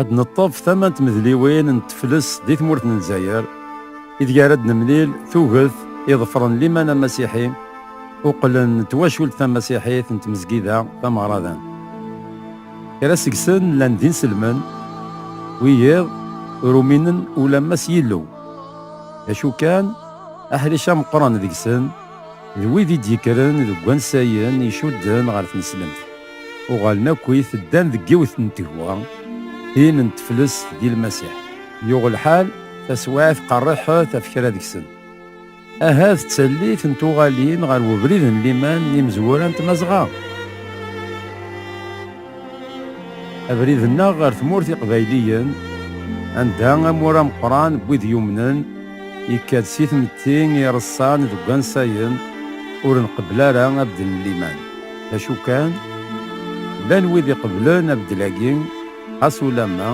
Ad neṭṭef tama n tmedliwin n tefles di tmurt n Lezzayer, ideg ara d-nemlil tuget iḍefren liman amasiḥi uqlen n twacult tamasiḥit n tmezgida tameɣradant. Kra seg-sen llan d inselmen, wiyiḍ ur uminen ulamma s Yillu. D acu kan, aḥric ameqqran deg-sen, D wid i d-yekkren deg wansayen icudden ɣer tneslemt, uɣalen akkit ddan deg yiwet n tegwa, tin n teflest di Lmasiḥ. Yuɣ lḥal, taswiɛt qerriḥet ɣef kra deg-sen. Ahat d tallit n tuɣalin ɣer ubrid n liman n yimezwura n Tmazɣa. Abrid-nneɣ ɣer tmurt iqbayliyen, anda amur ameqqran n wid yumnen yekka-d si tmetti i ireṣṣan deg wansayen ur nqebbel ara abeddel n liman. D acu kan, llan wid iqebblen abeddel-agi, xas ulamma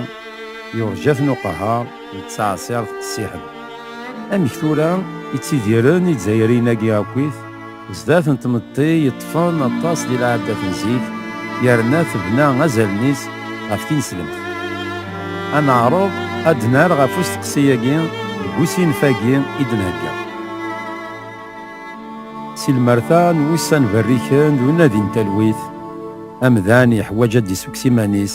yurǧa-ten uqehher d ttɛeṣṣiṛt qessiḥen. Amek tura i ttidiren Izzayriyen-agi akkit? Zdat n tmetti yeṭṭfen aṭas di lɛadat n zik, yerna tebna azalen-is ɣef tineslemt. Ad neɛreḍ ad d-nerr ɣef usteqsi-agi deg usinef-agi i d-nhegga. Si lmerta n wussan berriken d unadi n talwit, amdan yeḥwaǧ ad d-issukkes iman-is,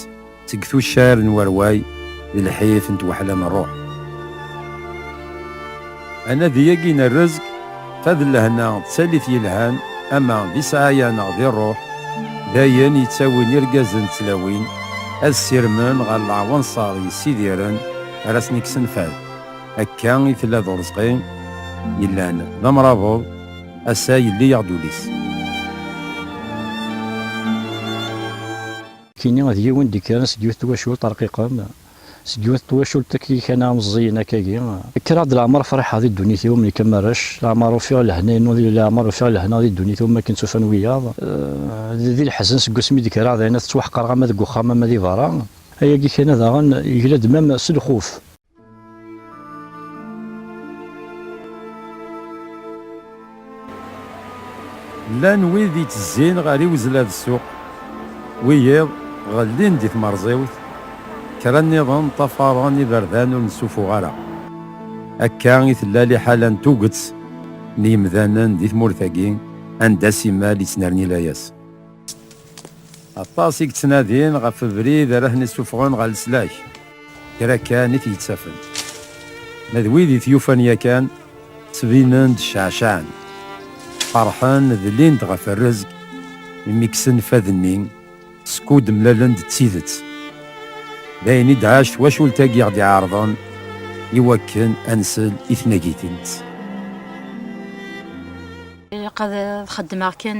seg tuccar n warway d lḥif n twaḥla n ṛṛuḥ. Anadi-agi n rrezg, ta d lehna d tallit yelhan, ama di sɛaya neɣ di ṛṛuḥ, d ayen yettawin irgazen d tlawin ad ssirmen ɣer leɛwanṣer yessidiren ara asen-ikksen fad. Akka i tella d uṛezqi yellan d amṛabeḍ, ass-a yelli-yaɣ-d ul-is. Kini d yiwen d-ikkren seg yiwet twacult arqiqen, seg yiwet twacult akked kana meẓẓiyen akkagi. Kkreɣ-d leɛmer friḥeɣ di ddunit-iw mlikan ma rrec, leɛmer ufiɣ lehna-inu di leɛmer ufiɣ lehna di ddunit-iw makken tt-ufan wiyaḍ. Di leḥzen seg wasmi d-kkreɣ dayen ad ttwaḥqreɣ ama deg uxxam ama di berra. Ayagi kana daɣen yegla-d mam s lxuf. Llan wid ittezzin ɣer iwezla d ssuq, wiyiḍ ɣellin di tmerẓiwt, kra nniḍen ṭṭafaren iberdan ur nessufuɣ ara. Akka i tella liḥala n tuget n yimdanen di tmurt-agi anda simmal yettnerni layas. Aṭas i yettnadin ɣef ubrid ara ten-issufɣen ɣer leslak, kra kan i t-yettafen. Ma d wid i t-yufan yakan, ttbinen-d ceɛceɛen, ferḥen, dlin-d ɣef rrezg imi kksen fad-nni skud mlalen-d d tidet. D ayen i d-tɛac twacult-agi ɣ-d-iɛerḍen i wakken ad nsel i tnagit-ines. Ilaq ad xeddmeɣ kan.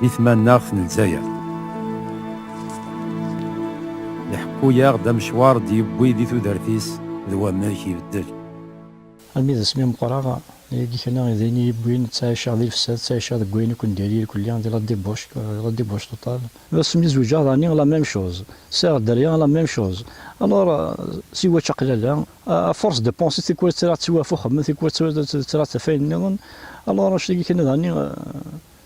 Di tmanaɣt n Lezzayer. Iḥekku-yaɣ-d amecwar d-yewwi di tudert-is d wamek ibeddel. Armi d asmi meqqreɣ, yagi kan i d ayen i yi-yewwin, ttɛiceɣ di lefsad, ttɛiceɣ deg wayen akk n diri irkelli, di la débauche, la débauche totale. D asmi zewǧeɣ daɣen, la même chose. Sɛiɣ dderya, la même chose. Alors, si watch aqlala, à force de penser, tikwal tra ttiwafuxem, tikwal tra taf ayen nniḍen, alors anect-agi kan daɣen.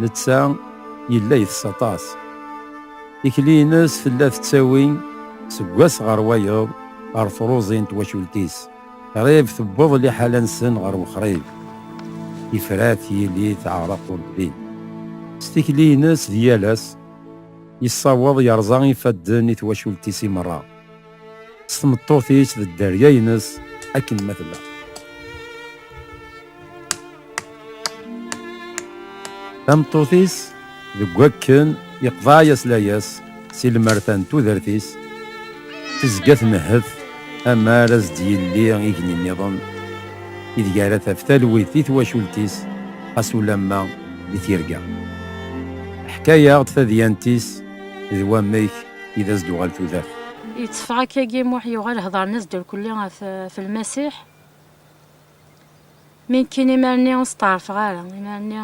Netta yella itess aṭas. Tikli-nnes tella tettawi seg wass ɣer wayeḍ ɣer truẓi n twacult-is, qrib tewweḍ liḥala-nsen ɣer wexrib. Tifrat yili teɛreq ur tbin. S tikli-nnes d yal ass, yessaweḍ yerẓa ifadden i twacult-is i merra. s tmeṭṭut-is d dderya-ines akken ma tella. Tameṭṭut-is deg wakken yeqḍeɛ-as layas si lmerta n tudert-is tezga tmehhet amar as d-yelli igenni-nniḍen ideg ara taf talwit i twacult-is xas ulamma di tirga. Ḥkayaɣ-d tadyant-is d wamek i d as-d-uɣal tudert. Yetteffeɣ akkagi Muḥ yuɣal hedren-as durkulli ɣef ɣef Lmasiḥ. Mi nekkin imarni ur steɛrfeɣ ara, imarni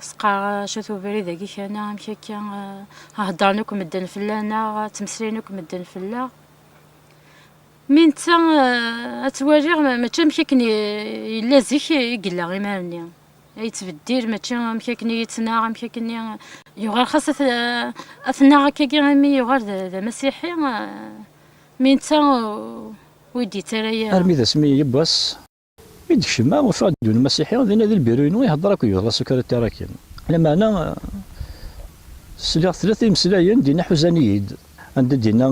s-qqareɣ acu-t ubrid-agi kana, amek akka heddren akk medden fell-aneɣ, ttmeslayen akk medden fell-aɣ. Mi netta ad twaliɣ mačči amek akken yella zik i yella imarni. yettbeddil mačči amek akken i yettnaɣ amek akken yuɣal xas ad tnaɣ akkagi imi yuɣal d amasiḥi mi netta ur d-yettara yara armi d asmi yiwwas mi d-kecmeɣ ufiɣ-d yiwen umasiḥi dinna di lbiru-inu iheddeṛ akked gma Sukaritya Rakim lameɛna sliɣ tlata imeslayen dinna ḥuzan-iyi-d anda dinna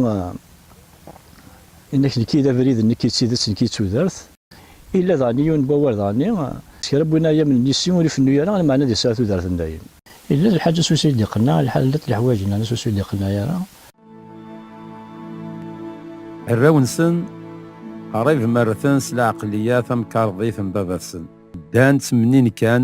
yenna-ak nekki d abrid nekki d tidet nekki d tudert. Illa daɣen yiwen n wawal daɣenni, s kra n win ara yamnen yis-i ur ifennu ara, lmeɛna ad yesɛu tudert n dayem. Illa d lḥaǧ asussu i d-iqenneɛ, lḥal llant leḥwaǧ n asussu i d-iqenneɛ ara. Arraw-nsen qrib ma rrten s lɛeqliya tamkarḍit n baba-tsen, ddan ttemnin kan.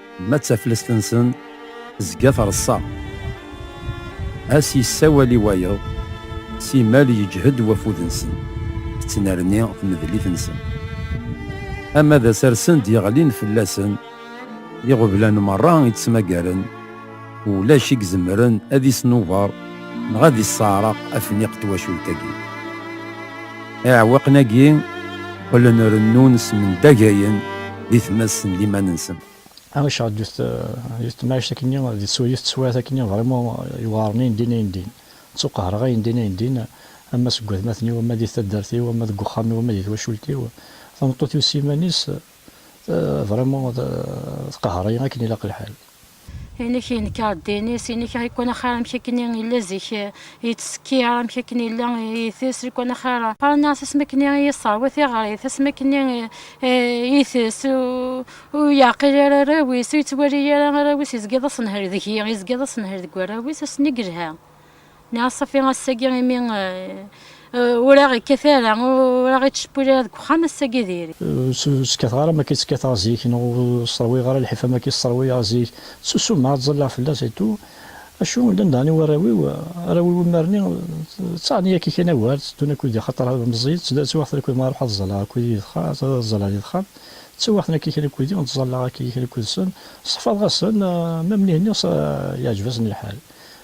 Ma d taflest-nsen tezga treṣṣa. Ass yessawal i wayeḍ, simal yeǧhed wafud-nsen, tettnerni tmedlit-nsen. Ama d asarsen d-yeɣlin fell-asen, iɣeblan merra i ttmagaren, Ulac i izemren ad isnuber neɣ ad isseɛreq afniq twacult-agi. Iɛewwiqen-agi qqlen rennun smendageyen di tmest n liman-nsen. Amek ceɛd yut temɛict akkenni di tsuyet teswiɛt akkenni vrimo yewɛren ayendin ayendin. Ttuqehreɣ ayendin ayendin ama seg watmaten-iw ama di taddart-iw ama deg uxxam-iw ama di twacult-iw. Tameṭṭut-iw s yiman-is. Vraiment tqehhreyi akken ilaq lḥal. Inek yenker ddin-is, inek iqwan axir amek akken i yella zik yettsekkir, amek akken yella itess, iqwan axir. Qqaren-as asmi akken i yesserwa tiɣrit, asmi akken i itess, ur yeɛqil ara arraw-is, ur yettwali ara arraw-is, yezga d asenher deg-i, yezga d asenher deg warraw-is, ass-nni yelha. Nniɣ a Ṣafi ass-agi imi ur aɣ-ikkat ara, ur aɣ-ittcewwil ara deg uxxam, ass-agi diri. Ur skateɣ ara am wakk-a i skateɣ zik, neɣ ur sserwiyeɣ ara lḥif am wakk-a i sserwiyeɣ zik. Ttusumeɣ, ttẓallaɣ fell-as etou. Acu, llan daɣen i warraw-iw, arraw-iw imar-nni ttaɣen-iyi akka kan awal, tteddun akked-i axaṭer meẓẓiyen, ttwaɣten akked-i ma ruḥeɣ ad ẓẓalleɣ akked-i di texxamt, ad ẓẓalleɣ di texxamt, ttwaɣten akka kan akked-i, ttẓallaɣ akka kan akked-sen, ṣeffaḍeɣ-asen, ma mlihin-nniɣ yeɛǧeb-asen lḥal.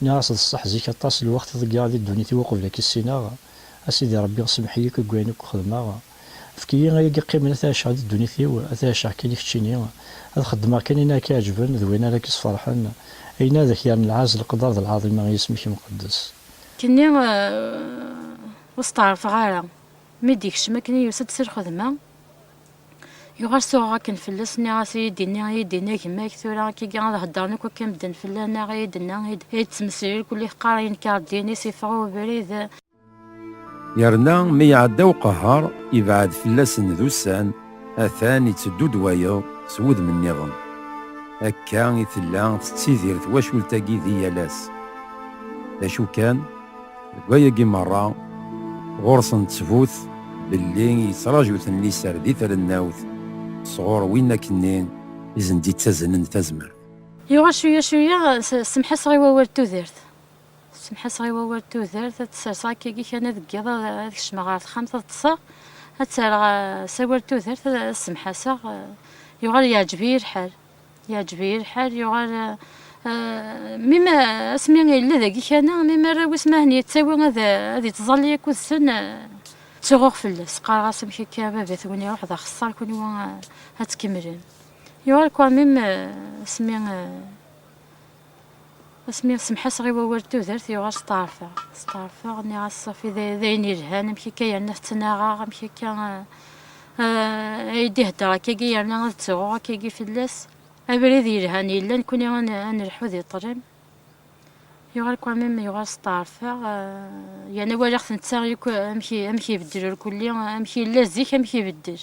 Nniɣ-as d ṣṣeḥ zik aṭas lwext i ḍeggaɣ di ddunit-iw uqbel a k-issineɣ, a Sidi Rebbi semmeḥ-iyi akk deg wayen akk xedmeɣ, efk-iyi ay ak-iqqimen a t-ɛiceɣ di ddunit-iw, a t-ɛiceɣ kan i keččini, ad xeddmeɣ kan ayen ara k-iɛeǧben d wayen ara k-isferḥen, ayen ara d ak-yerren lɛezz, leqder d lɛaḍima i yisem-ik amqeddes. Kkenni ur steɛṛfeɣ ara mi d-yekcem akken i yusa-d si lxedma. Yuɣal suɣeɣ akken fell-as, nniɣ-as i yi-d-inni, i yi-d-inna gma-k, tura akka igi ad heddren akk akka medden fell-aneɣ, i yi-d-inna, i yi-d-ttmeslil, kulli teqqar ayen kar d-yinis, iffeɣ i ubrid. Yerna mi iɛedda uqehher, ibɛed fell-asen d ussan, atan itteddu-d wayeḍ s wudem nniḍen. Akka i tella tettidir twacult-agi di yal ass. D acu kan. Deg wayagi merra, ɣur-sen ttbut belli yettraju-ten liser di trennawt sɣur win akken-nni i sen-d-ittaznen tazmert. Yuɣal cuyya cuyya, semḥaseɣ i wawal d tudert. Semḥaseɣ i wawal d tudert, ad tt-serseɣ akkagi kan deg yiḍ, ad kecmeɣ ɣer texxamt ad ṭṭseɣ, ad tt-rreɣ s awal d tudert, ad semḥaseɣ, yuɣal yeɛǧeb-iyi lḥal. Yeɛjeb-iyi lḥal, yuɣal mi ma asmi yella dagi kana, mi ma arraw wis mahen yettawi ad yettẓalli akkud-sen, ttuɣuɣ fell-as, qqareɣ-as amek akka a baba-twen iruḥ d axeṣṣar kunwi ad tkemmlem. Yuɣal quand même asmi Asmi semḥaseɣ i wawal d tudert yuɣal steɛrfeɣ, steɛrfeɣ, nniɣ-as Ṣafi d ayen yelhan, amek akka yerna tettnaɣeɣ, amek akka ay d-ihedder akkagi yerna ad ttruɣ akkagi fell-as, abrid yelhan yella nekkni ad nelḥu di ṭṭlam, yuɣal quand même yuɣal steɛrfeɣ, yerna walaɣ-t netta amek ibeddel irkelli, amek yella zik amek ibeddel.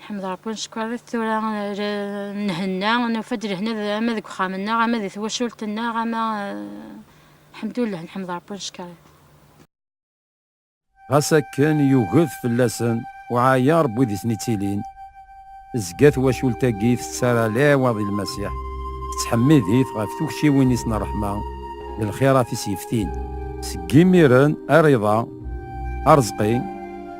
Nḥmed Ṛebbi neckeṛ-it tura nhenna, nufa-d lehna ama deg uxxam-nneɣ, ama di twacult-nneɣ, ama ḥemdullah nḥmed Ṛebbi neckeṛ-it. Ɣas akken yuged fell-asen uɛayaṛ n wid i ten-ittilin, tezga twacult-agi tettara lɛiwaḍ i Lmasiḥ, tettḥemmid-it ɣef tukciwin-is n ṛṛeḥma d lxiṛat i s-yeftin. Seg yimiren ar iḍ-a, aṛeẓqi.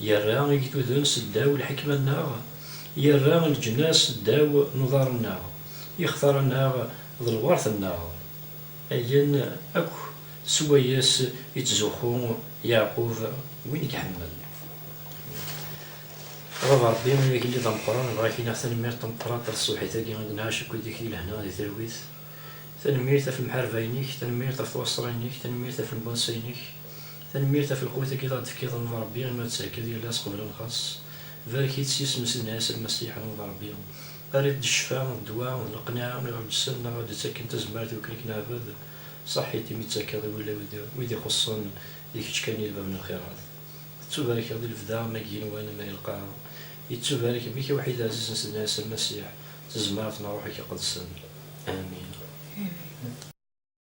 Yerra igduden s ddaw lḥekma-nneɣ, yerra leǧnas s ddaw n uḍar-nneɣ, ixtar-nneɣ d lweṛt-nneɣ. Ayen akk s wayes ittzuxxu Yeɛqub, win i iḥemmel. A baba Ṛebbi, ay agellid ameqqran, bɣa ak-iniɣ tanemmirt tameqqrant ɣef tṣebḥit-agi i d-nɛac akked deg-k di lehna di talwit. Tanemmirt ɣef lemḥarba-inek, tanemmirt ɣef twaṣṣra-inek, tanemmirt ɣef lembunsay-inek. Tanemmirt ɣef lqut-agi i ɣ-d tefkiḍ n Rebbi imi ɣ-d tserkiḍ yal ass qbel lxaṣ. Barek-itt s yisem-is d Nɛisa Lmasiḥ n d Rebbi. Err-it d ccfa, d ddwa, d leqneɛ i ɣ-d ssen neɣ ɣ-d ttakken tazmert i wakken i k-neɛbed. Saḥit imi ttakeḍ i wulaw i d wid ixuṣṣen, d kečč kan i lbab n lxirat. Tettubarkeḍ di lebda ma deg yigenwan ama di lqaɛa. Yettubarek mmi-k awḥid ɛziz n Sidna Ɛisa Lmasiḥ d tezmert n Ṛṛuḥ-ik Iqedsen. Amin.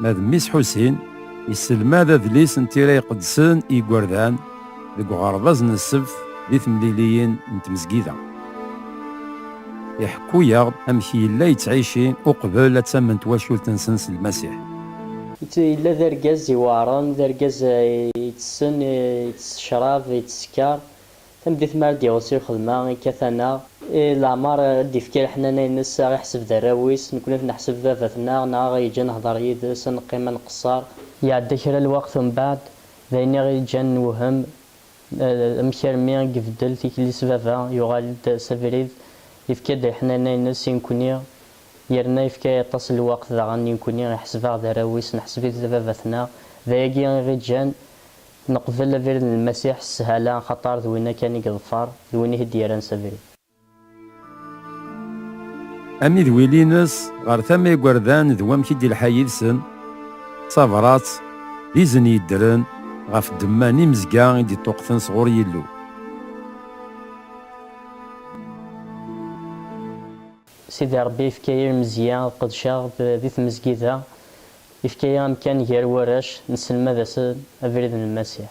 Ma d Miss Ḥusin, yesselmad adlis n tira iqedsen i yigerdan deg uɣerbaz n ssebt di temliliyin n tmezgida. Iḥekku-aɣ-d amek yella yettɛici uqbel ad tamen twacult-nsen s Lmasiḥ. Netta yella d argaz iweɛṛen, d argaz ittessen, ittess ccṛab, ittess skeṛ, Tameddit mi ara d-iɣes i lxedma, ikkat-aneɣ. I leɛmer i d-ifka leḥnana-ines, a ɣ-iḥseb d arraw-is, nekkni ad t-neḥseb d baba-tneɣ, neɣ a ɣ-yeǧǧ a nehder yid-s, a neqqim a nqesser. Iɛedda kra n lweqt umbeɛd, d ayen i ɣ-yeǧǧan newhem amek armi i ibeddel tikli-s baba, yuɣal-d s abrid, ifka-d leḥnana-ines i nekkni, yerna ifka aṭas n lweqt daɣen i nekkni, iḥseb-aɣ d arraw-is, neḥseb-it d baba-tneɣ, d ayagi i ɣ-iǧǧan. Neqbel abrid n Lmasiḥ s sshala axaṭer d winna kan i yeḍfer, d win i t-id-yerran s abrid. Amidwil-ines ɣer tama igerdan d wamek i d-ilḥa yid-sen, d tabrat, d izen yeddren ɣef ddemma n imezga i d-iṭṭuqten sɣur Yillu. Sidi Ṛebbi yefka-yi lmezya ad qedceɣ di tmezgida, yefka-yi amkan gar warrac, nesselmad-asen abrid n Lmasiḥ.